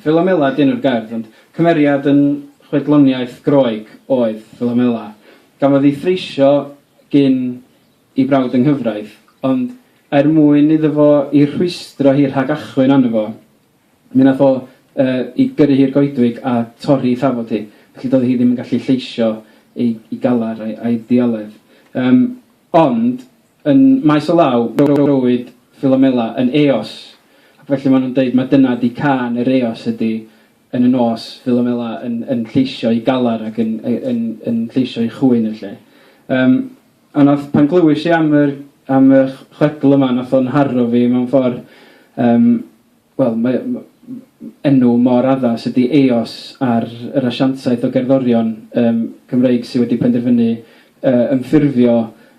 Philomela ydy enw'r gerdd, ond cymeriad yn chwedloniaeth Groeg oedd Philomela. Gafodd ei threisio gin ei brawd yng nghyfraith, ond er mwyn iddo fo i rhwystro hi rhag achwyn arno fo, mi wnaeth o yy i gyrru hi i'r goedwig a torri ei thafod hi, felly doedd hi ddim yn gallu lleisio ei ei galar a'i a'i ddioledd. Yym ond Yn maes o law, rowyd Philomela yn Eos, ac felly maen nhw'n deud mai dyna ydi cân yr Eos ydi, yn y nos, Philomela yn yn lleisio ei galar ac yn yy yn yn lleisio ei chŵyn yn lle. Yym, a wnaeth, pan glywais i am yr am y chwedl yma, wnaeth o'n nharo fi mewn ffordd, yym, Wel, mae m- m- m- enw mor addas ydy Eos ar yr asiantaeth o gerddorion yym Cymreig sydd wedi penderfynu yy ymffurfio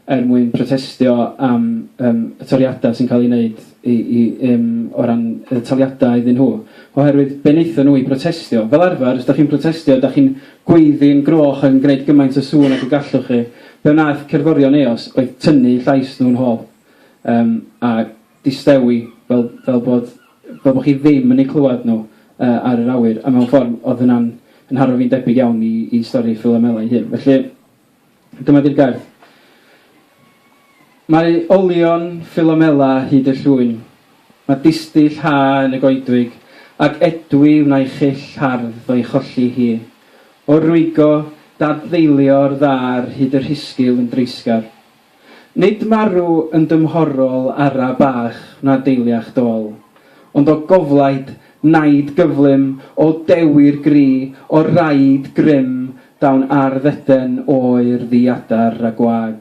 er mwyn protestio am yym y toriadau sy'n cael eu wneud i i yym o ran y taliadau iddyn nhw. Oherwydd be wnaethon nhw i brotestio? Fel arfer, os dach chi'n protestio, dach chi'n gweiddi'n groch ac yn gwneud gymaint o sŵn ag y gallwch chi. Be wnaeth cerddorion Eos oedd tynnu llais nhw'n hôl. Yym a distewi, fel fel bod fel bod chi ddim yn eu clywed nhw yy ar yr awyr, a mewn ffordd oedd hynna'n yn nharo fi'n debyg iawn i i stori Philomela ei hun. Felly, dyma 'di'r gair. Mae olion Philomela hyd y llwyn, mae distyll ha yn y goedwig, ac edwi wnai chyll hardd o'i cholli hi. O'r rwygo, dadfeilio'r ddaar hyd y rhisgil yn dreisgar. Nid marw yn dymhorol ara bach na deiliach dol, ond o goflaid naid gyflym o dewi'r gri o raid grym dawn ar ddeden oer ddi adar a gwag.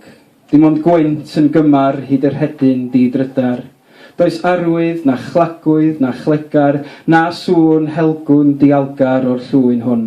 Dim ond gwynt yn gymar hyd y rhedyn di drydar. Does arwydd na chlagwydd na chlegar na sŵn helgwn dialgar o'r llwyn hwn.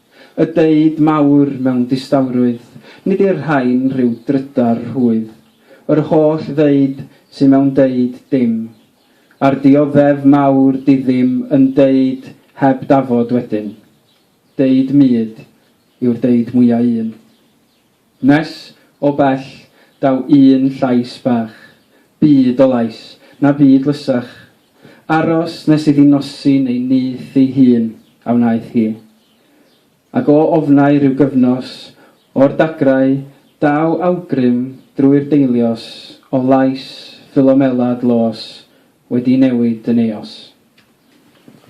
Y deud mawr mewn distawrwydd, nid i'r rhain rhyw drydar rhwydd. Yr holl ddeud sy mewn deud dim, a'r dioddef mawr diddym yn deud heb dafod wedyn. Deud mud yw'r deud mwya un. Nes o bell daw un llais bach, byd o lais, na byd lysach, aros nes iddi nosi neu nyth ei hun, a wnaeth hi. Ac o ofnau rhyw gyfnos, o'r dagrau, daw awgrym drwy'r deilios o lais Ffilomela dlos wedi newid yn eos.